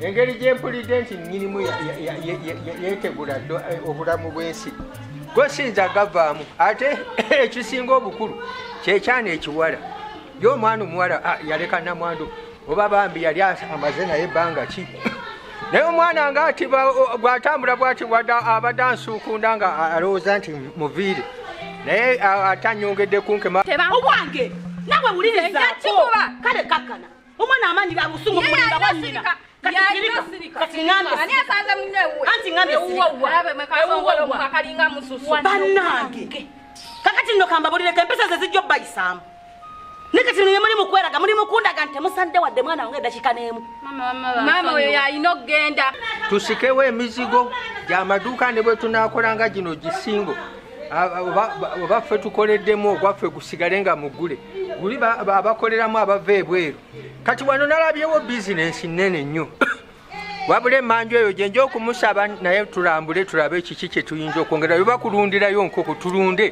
engeri gyempulidde nti nyinimu yetegula eh, obulamu bwensi gosinza gavaamu ate ekisinga obukulu kyekyana ekiwala ye omwana omuwala ah, yaleka namwandu oba bambi yali amaze naye ebbanga ki naye omwana nga ati gwatambula bwati abadde ansuukunda nga alowooza nti muviire naye atanyongedde kunkema owange nawe wuliriza kale kakkana omwana amaanyi ga busungu mulinga bwanyina banange kakati nno kambabulireko empisa ze zijja obbayisaamu naye kati nno yemuli mukweraga muli mukundaga nti temusande wadde mwana wange edakika n'emu maama oyo yalina okugenda tusikewo emizigo gyamaduuka ne bwe tunaakolanga gino gisingo oba ffe tukoleddemu ogwaffe gusigale nga mugule guli abakoleramu abava ebweru kati wano nalabyewo bizinensi nnene nnyo wabula emanju eyo gyenja okumusaba naye tulambule tulabe kiki kyetuyinza okwongera oba kulundirayo nkoko tulunde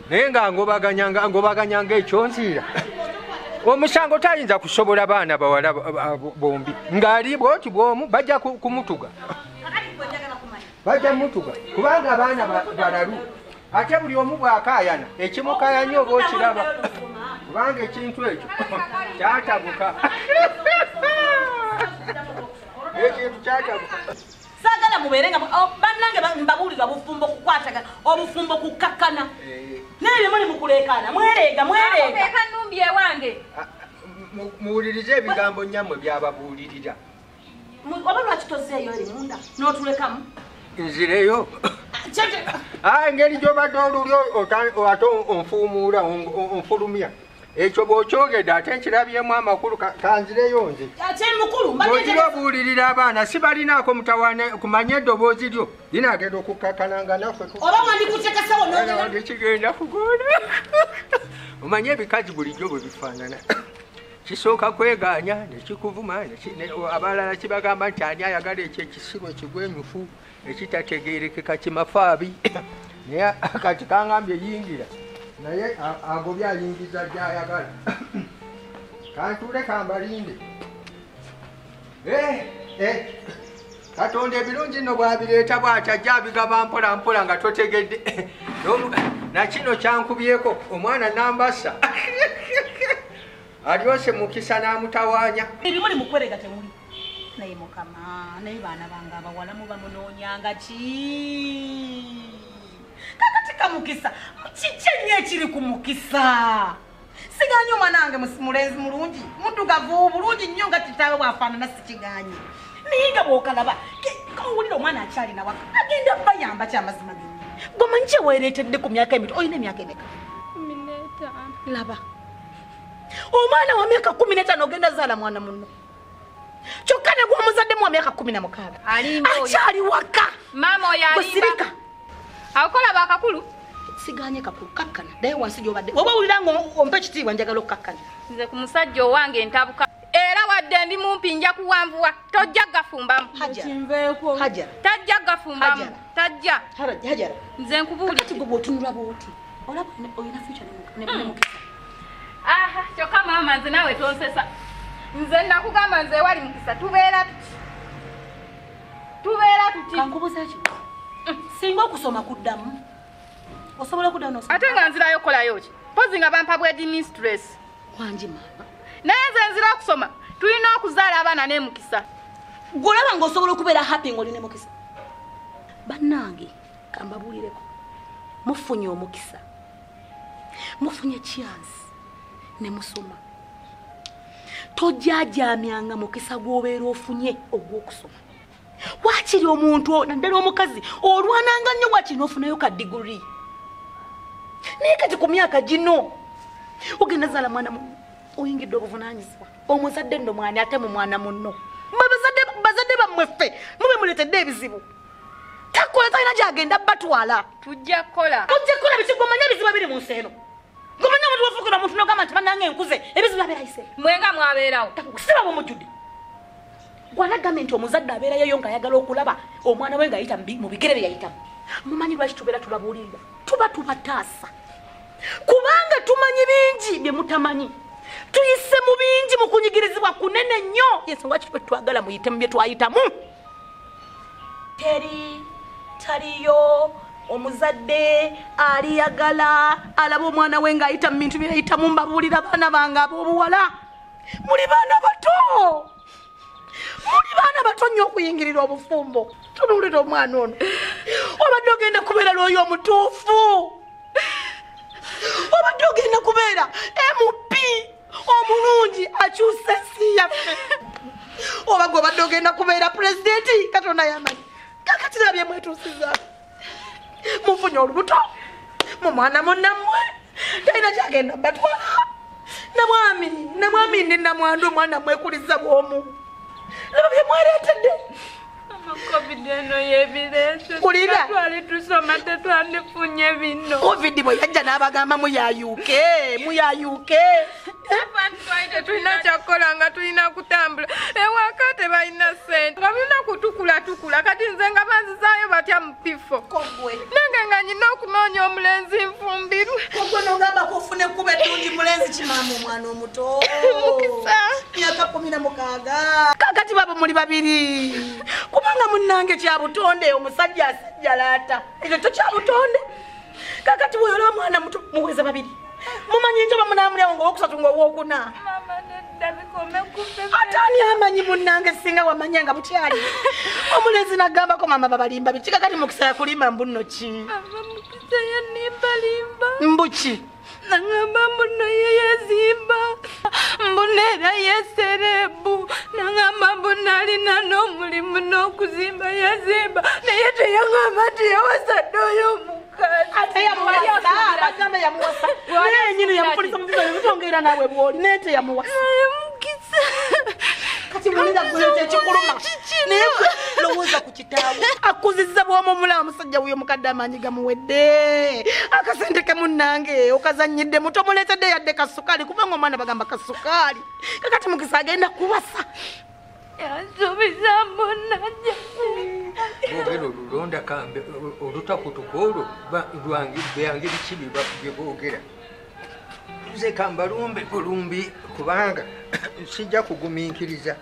naye nga ngobaganyanga ekyonziira omusango tayinza kusobola baana bawala bombi ng'ali bwoti bwomu bajja kumutuga bajja mutuga kubanga abaana balalu ate buli omu bwakayana ekimukayanya oba okiraba kubanga ekintu ekyo kyatabuka ekintu kyatabuka sagala mubeere nga oh, bannange mbabuulira obufumbo kukwataga obufumbo kukkakkana eh. naye bye muli mukuleekaana mwereega mwereegaeka nnumbi ewange ah, muwulirize ebigambo nyammwe byababuulirira oba lwaki tozeeyo eri munda n'otulekamu nzireyo ah, engeri gyobadde oluli ate onfuumuula onfulumya ekyo bwokyogedde ate nkirabyemu amakulu kanzireyo nze ogira obuulirira abaana si balinaako mutawane kumanya eddoboozi lyo linagenda okukkakana nga nafekigenda kugona omanye ebikazi bulijjo bwe bifaanana kisooka kwegaanya nekikuvuma abalala kibagamba nti ani ayagala ekyo ekisibo ekigwenyufu ekitategerekeka kimafaabi naye kati kangambye yingira naye agobye ayingiza gyayagala kantuule kambalinde Eh, eh. katonda ebirungi nno bwabireeta bwati ajja abigaba mpola mpola nga totegedde nakino kyankubyeko omwana nambasa alyose mukisa n'amutawanya ebimuli mukwerega temuli naye mukama naye baana bange abawala muba munoonyanga ki kakati kamukisa kiki ennyo ekiri ku mukisa sigaanyi omwana wange mulenzi mulungi muddugavu bulungi nnyo nga kitaawe bwafaanana sikigaanyi naye nga bwokalaba kawulira omwana akyalina waka agenda bayamba kyamazima ge gomanyi kyeweereetedde ku myaka emito olina emyaka emeka laba omwana wa myaka kumi netaano ogenda zaala mwana munno kyokka ne gwomuzaddemu wa myaka kumi na mukaaga akyali waka maama oyo alimba akola bakakulu siganye kakulu kakkana naye wansi gyobadde oba owulira nga ompa ekitiibwa njagala okukakkana nze ku musajja owange ntabuka era wadde ndi mumpi nja kuwanvuwa tojja gafumbamu tajja gafumbamu tajja nze nkubuulira olaba olina fyuca nemukisa aha kyokka maama nze naawe tonsesa nze nakugamba nze ewali mukisa tubeera tuti tubeera tuti kankubuza ki singa okusoma kuddamu osobola okuddamu nosoma ate nga nzirayo okukolayo ki mpozi nga bampa bwedi mistress wangi maama naye nze nzira okusoma tulina okuzaala abaana nemukisa gwolaba nga osobola okubeera happy nga oli nemukisa bannange kambabuulireko mufunye omukisa mufunye chance ne musoma tojajamyanga mukisa gwobeera ofunye ogwokusoma wakiri omuntu naddala omukazi olwananga nnyo wakiri nofunayo ka diguri naye kati ku myaka gino ogenda zaala mwana oyingidde obuvunanyizibwa omuzadde nno mwani ate mu mwana munno bazadde bammwe ffe mube muletedde ebizibu takola talina gyagenda batwala tujja kukola tujja kukola biki gomanya ebizibu ebiri mu nsi eno gomanya omuntu wafuukira omuntu nogamba nti banange enkuze ebizibu abeerayise mwenga mwabeerawo siba bumujjudde gwanagambye nti omuzadde abeerayoyo ngaayagala okulaba omwana we ngaayita mu bigere bye yayitamu mumanyi lwaki tubeera tubabuulirira tuba tubataasa kubanga tumanyi bingi bye mutamanyi tuyise mu bingi mu kunyigirizibwa kunene nnyo yensonga kitwe twagala muyite mu bye twayitamu teri taliyo omuzadde aliyagala alaba omwana we ng'ayita mu bintu byeyayitamu mbabuulira baana bange ab'obuwala muli baana bato muli baana bato nnyo okuyingirira obufumbo tunuulira omwana ono obadde ogenda kubeera lwoyo omutuufu obadde ogenda kubeera mp omulungi akyusa ensi yaffe oba gwe obadde ogenda kubeera pulezidenti katonda yamanyi kakatira byemwetuusiza mufunye olubuto mu mwana munammwe talina kyagenda batwala namwami namwami ndi namwandu omwana mwekuliza bwomu nabyo byemwereetedde kulira covid bwe yajja n'abagamba muyayuke muyayuke tetulina kyakukola nga tulina kutambula ewaka tebalina sente nga tulina kutukulatukula kati nze nga banzizaayo batya bifo nange nga nyina okunoonya omulenzi nfumbirwe ogwe nogamba kufuna ekkuba eddungi mulenzi kimaama omwana omuto mukisa myaka kumi na mukaaga kakati babo muli babiri kubanga munnange kya butonde omusajja asijjalaata ekyo to kya butonde kakati weyola omwana muto muweza babiri mumanye njoba munaamulyawo ngaowokusatu ngaowokuna atani amanyi munange singa wamanya nga bukyali omulenzi nagambako mama babalimba biki kakati mukisa yakulimba mbunno ki mbuki nangamba mbuno yeyezimba mbuna era yeserebu nangamba mbuna alina n'omulimu n'okuzimba yazimba naye teyangamba nti yawasadde oyo omu ate yamuwasa bagamba yamuwasa naye nyini yamupolisa mukiza yotongera nawe bwoli naye teyamuwasa kati mulina gwete kikuluma naye lowooza ku kitaawe akuziza bwomumula omusajja wuyo mukadde amaanyi gamuwedde akasente ke munnange okazanyidde muto muleetedde yadde kasukaali kubanga omwana bagamba kasukaali kakati mukisa agenda kuwasa yansuubiza munajja boogera olulonda kambe olutakutuka olwo lwange byange biki bye boogera nze kambalumbe bulumbi kubanga sijja kugumiikiriza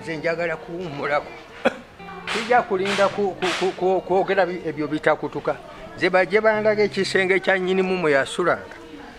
nze njagala kuwummulako sijja kulinda kwogera ebyo bitakutuka nze bajje bandaga ekisenge kya nnyinimu mwe yasulanga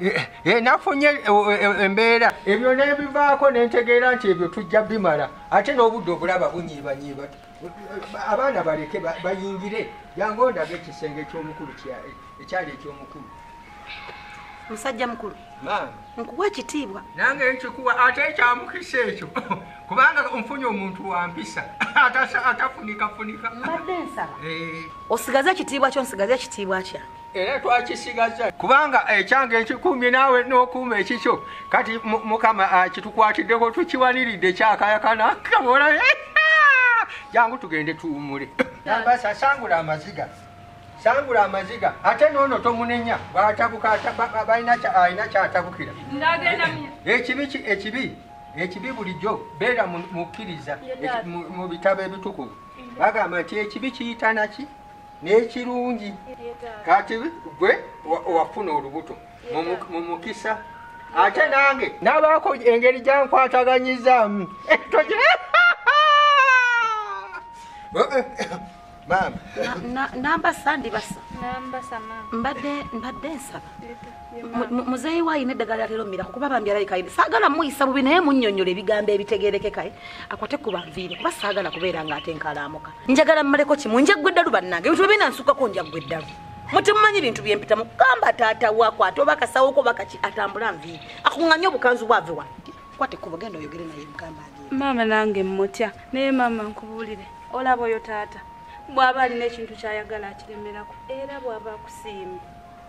Eh, eh, nafunye eh, embeera ebyo nebivaako nentegeera nti ebyo tujja bimala ate n'obudde obulaba bunyiibanyiiba abaana baleke bayingire jangu ondaga ekisenge ekyomukulu ekyali ekyomukulu musajja mukulu nkuwa ekitiibwa nange nkikuwa ate ekyamukisa ekyo kubanga nfunye omuntu wampisa atafunikafunika mbadde nsaba osigaze ekitiibwa kyo nsigaze ekitiibwa kyange era twakisigaza kubanga ekyange ekikuumye naawe n'okuuma ekikyo kati mukama ah, kitukwatiddeko tukiwaniridde kyakayakana kabola jangu tugende tuwumule nambasa sangula amaziga sangula amaziga ate noono tomunenya bwatabuka alina kyatabukira ekibi ekibi ekibi bulijjo beera mukkiriza mu bitabo ebitukuvu bagamba nti ekibi kiyitanaki n'ekirungi kati gwe wafuna olubuto mu mukisa ate nange nabaako engeri gyankwataganyizaamu eh, namba sandibasa mbadde nsaba muzeeyi waayina eddagala lyatera omira kukuba bambi alaikaide saagala muyisa bubi naye munyonyola ebigambo ebitegerekekae akwate ku banviire kuba saagala kubeera nga ate nkalaamuka njagala mmaleko kimu njaggwa eddalu bannange ebintu byebiina nsukako njaggwa eddalu mutimumanyi bintu byempitamu gamba taata wakwata oba kasawoko bakaki atambula nviire akuŋŋanye obukanzu bwave wa kwate kubo genda oyogere naye mugamba maama nange mmutya naye maama nkubuulire olaba oyo taata bw'aba alina ekintu ky'ayagala akiremerako era bw'aba akusiima